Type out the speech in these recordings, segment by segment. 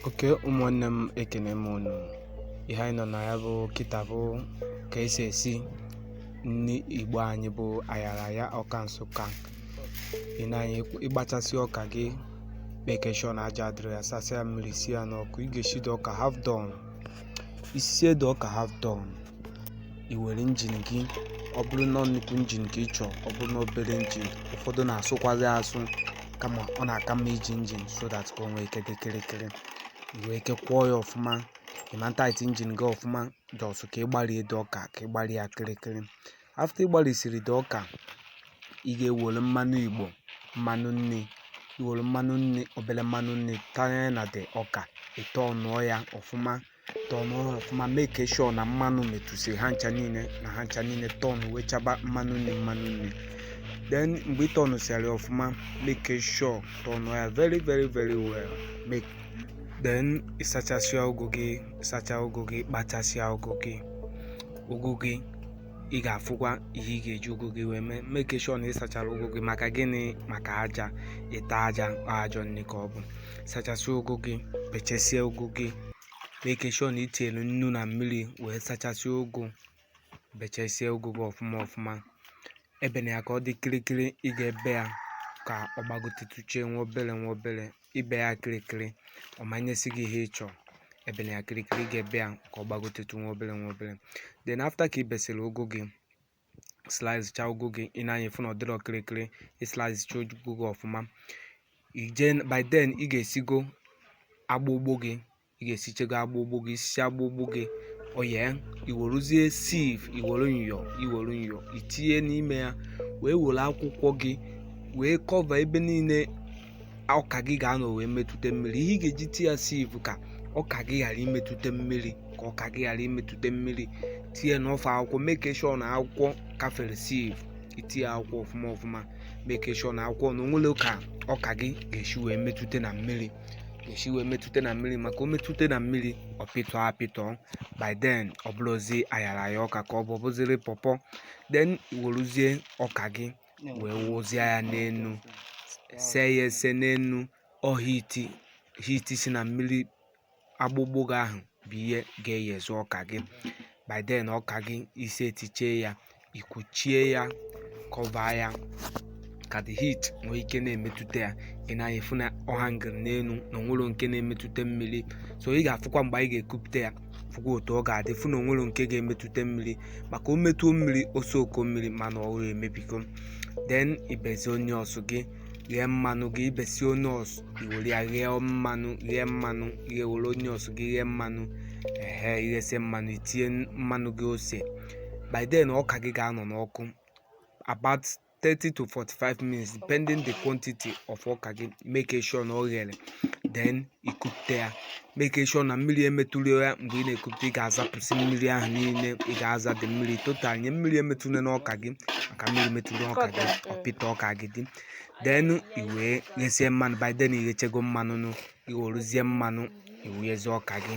oke ụmụnne m ekene m unu ihe anyị nọ na ya bụ kịta bụ ka esi esi nri igbo anyị bụ ayaraya ọka nsụka ị na-anya ịgbachasị ọka gị make sure na aja adịrọ ya sasịa ya mmiri si ya n'ọkụ ị ga-eshido ọka half done isisie the ọka half done i were injin gị ọ bụrụ na nnukwu injin ka ị chọọ ọ bụrụ na obere injin ụfọdụ na-asụkwazi asụ kama ọ na-aka mma iji injin so that ka o nwee ike dị kịrịkịrị i nwee ike kwọọ ya ọfụma ịma tight injin gị ọfụma just ka ịgbarie the ọka ka ịgbarie ya kịrịkịrị after ịgbarisiri the ọka ị ga-ewere mmanụ igbo mmanụ nri iwere mmanụ nri obere mmanụ nri tanye na the ọka ịtọnụọ ya ọfụma tọnụọ ya ọfụma make sure na mmanụ metụsi ha ncha niile na ha ncha niile tọnụ wee chaba mmanụ nri mmanụ nri then mgbe ị tọnụsịara ọfụma make sure tọnụ ya very very very well then ịsachasịa ụgụ gị ịsacha ụgụ gị kpachasịa ụgụ gị ụgụ gị ị ga-afụkwa ihe ị ga-eji ụgụ gị wee mee make sure na ị sachara ụgụ gị maka gịnị maka aja ịta aja ajọ nri ka ọ bụ sachasịa ụgụ gị bechesie ụgụ gị make sure na itinyere nnu na mmiri wee sachasịa ụgụ bechesie ụgụ gị ọfụma ọfụma ebena ya ka ọ dị kịrịkịrị ị ga-ebe ya ka ọ gbagotetuchie nwa obere nwa obere ibe ya kịrịkịrị ọ ma-enyezi gị ihe ị chọrọ ebena ya kịrịkịrị ị ga-ebe ya ka ọ gbagotetụ nwa obere nwa obere then after ka ị besịrị ụgụ gị slice cha ụgụ gị ị nee anya fụ na ọ dịrọ kịrịkịrị ị slice cha ụgụ gị ọfụma by then ị ga-esigo agbụgbụ gị ị ga-esichego agbụgbụ gị isi agbụgbụ gị oye iweruzie sieve iwere nyọ iwere nyọ itinye n'ime ya wee were akwụkwọ gị wee cover ebe niile ọka gị ga-anọ wee metụta mmiri ihe ị ga-eji ti ya sieve ka ọka gị ghara imetụta mmiri ka ọka gị ghara imetụta mmiri tinye enough akwụkwọ make sure na akwụkwọ kafere sieve itinye akwụkwọ ọfụma ọfụma make sure na akwụkwọ na onwerọ ka ọka gị ga-esi wee metụta na mmiri ga-esi wee metụta na mmiri maka o metụta na mmiri ọ pịtọ apịtọ by then ọ bụrọzi ayaraya ọka ka ọ bụ bụziri pọpọ then iweruzie ọka gị wee wụzie ya n'enu see ya ese n'enu ọ heat heat si na mmiri agbụgbụ gị ahụ bụ ihe ga-eyezu ọka gị by then ọka gị isi etiche ya ikuchie ya cover ya ka the heat nwee ike na-emetụta ya ị na-afụ na ọ hangịrị n'elu na onwerọ nke na-emetụta mmiri so ị ga-afụkwa mgbe anyị ga-ekupụta ya fụkwa otu ọ ga-adị fụ na onwerọ nke ga-emetụta mmiri maka o metụọ mmiri o soak mmiri ma na o mebigo then ibezi onions gị ghee mmanụ gị ibesi onions iwere ya ghee mmanụ ghee mmanụ iwere onions gị ghee mmanụ ehe ighesi mmanụ itinye mmanụ gị ose by then ọka gị ga-anọ n'ọkụ about 30 to 45 minutes depending the quantity of ọka gị make sure na ọ ghere then ikupụta ya make sure na mmiri emetụrọ ya mgbe ị na-ekupụta ị ga-azapụsị mmiri ahụ niile ị ga-aza the mmiri totally mmiri emetụla n'ọka gị maka mmiri metụrụ ọka gị ọ pịta ọka gị dị then iwee ghesie mmanụ by then ighechego mmanụ nụ iweruzie mmanụ iwunyezie ọka gị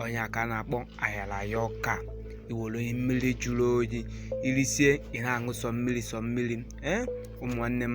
ọ nya ka a na-akpọ ayaraya ọka iwere mmiri jụrụ oyi irisie ị na-aṅụ sọ mmiri sọ mmiri ee ụmụnne m